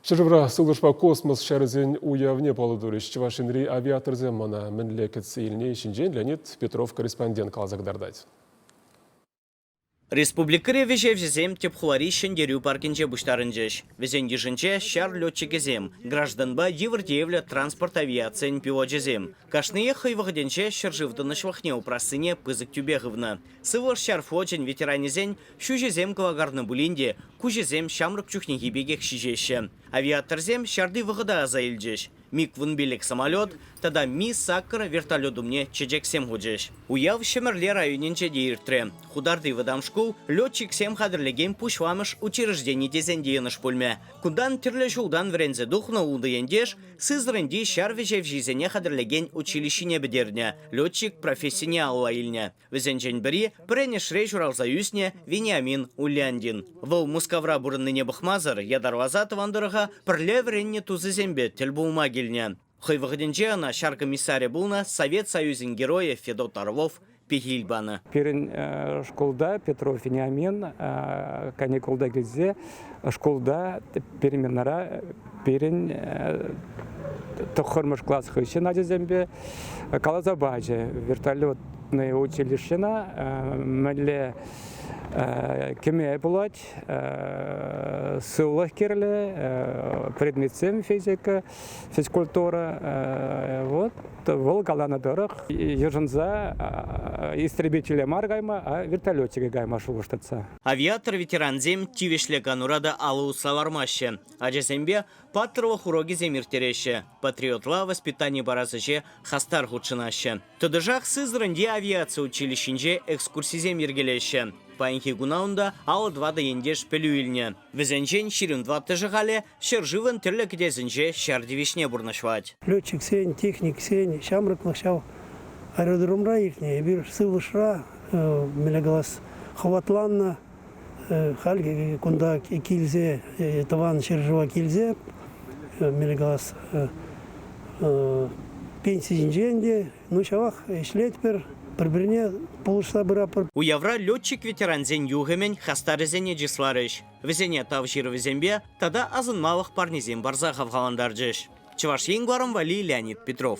Ҫӗршывра сывлӑшпа космос ҫарӗсен уявне паллӑ турӗҫ. Чӑваш Енри авиаторсем мана мӗнле кӗтсе илни ҫинчен Леонид Петров корреспондент каласа кӑтартать. Республикӑри вӗҫевҫӗсем тӗп хулари Ҫӗнтерӳ паркӗнче пуҫтарӑнчӗҫ. Вӗсен йышӗнче ҫар летчикӗсем, гражданпа йывӑр тиевлӗ транспорт авиацийӗн пилочӗсем. Кашниех хӑй вӑхӑтӗнче ҫӗршыв тӑнӑҫлӑхне упрассине пысӑк тӳпе хывнӑ. Сывлӑш ҫар флочӗн ветеранӗсен Ҫӳҫӗсем кӑвакарнӑ пулин те, куҫӗсем ҫамрӑк чухнехи пекех ҫиҫеҫҫӗ. Авиаторсем ҫарти вӑхӑта аса илчӗҫ, МиГ-вунпилӗк самолет тата Ми-Саккӑр вертолет умне чечексем хучӗҫ. Уяв Ҫӗмӗрле районӗнче те иртрӗ. Хутарти вӑтам шкул летчиксем хатӗрлекен пуҫламӑш учреждени тесен те йӑнӑш пулмӗ. Кунтан тӗрлӗ ҫултан вӗренсе тухнӑ ултӑ ентеш Сызраньти ҫар вӗҫевҫисене хатӗрлекен училищине пӗтернӗ, летчик профессине алла илнӗ. Вӗсенчен пӗри, пӗренӗшре ҫуралса ӳснӗ Вениамин Ульяндин. Вӑл Мускавра пурӑннине пӑхмасӑр ятарласа тӑван тӑрӑха пӗрле вӗреннӗ тусӗсемпе тӗл пулма килнӗ. Хӑй вӑхӑтӗнче ӑна ҫар комиссарӗ пулнӑ Совет Союзӗн Геройӗ Федот Орлов пехил панӑ. Пирӗн шкулта Петров Вениамин каникулта килсе Шкулта переменара пирӗн тӑххӑрмӗш класс хыҫҫӑн ачасемпе каласа пачӗ вертолетное училищӗна мӗнле кӗме пулать, сывлӑх кирлӗ, предметсем физика, физкультура. Вот вӑл каланӑ тӑрӑх йышӑнса истребителе мар кайма, а вертолетчике кайма шухӑшлатса. Авиатор ветерансем тивӗҫлӗ канура та алӑ усса лармаҫҫӗ, ачасемпе паттӑрлӑх урокӗсем ирттереҫҫӗ, патриотла воспитани парас ӗҫе хастар хутшӑнаҫҫӗ. Тӑтӑшах Сызраньти авиаци училищинче экскурсисем йӗркелеҫҫӗ. Паянхи куна унта алӑ тӑватӑ ентеш пӗлӳ илнӗ. Вӗсенчен ҫирӗм тӑваттӑшӗ халӗ Ҫӗршывӑн тӗрлӗ кӗтесӗнче ҫар тивӗҫне пурнӑҫлать. Летчиксен, техниксен ҫамрӑклӑх ҫав аэродромра иртнӗ. Эпир сывлӑшра мӗнле калас, хӑватланнӑ. Хальхи кунта килсе, тӑван ҫӗршыва килсе, мӗнле калас, пенси ҫинчен те, ну ҫавах ӗҫлетпӗр, пӗр-пӗрне пулӑшса пыратпӑр. Уявра летчик-ветерансен юхӑмӗн хастарӗсене чысларӗҫ. вӗсене тав ҫырӑвӗсемпе тата асӑнмалӑх парнесем парса хавхалантарчӗҫ Чӑваш Ен кӑларӑм валли Леонид Петров.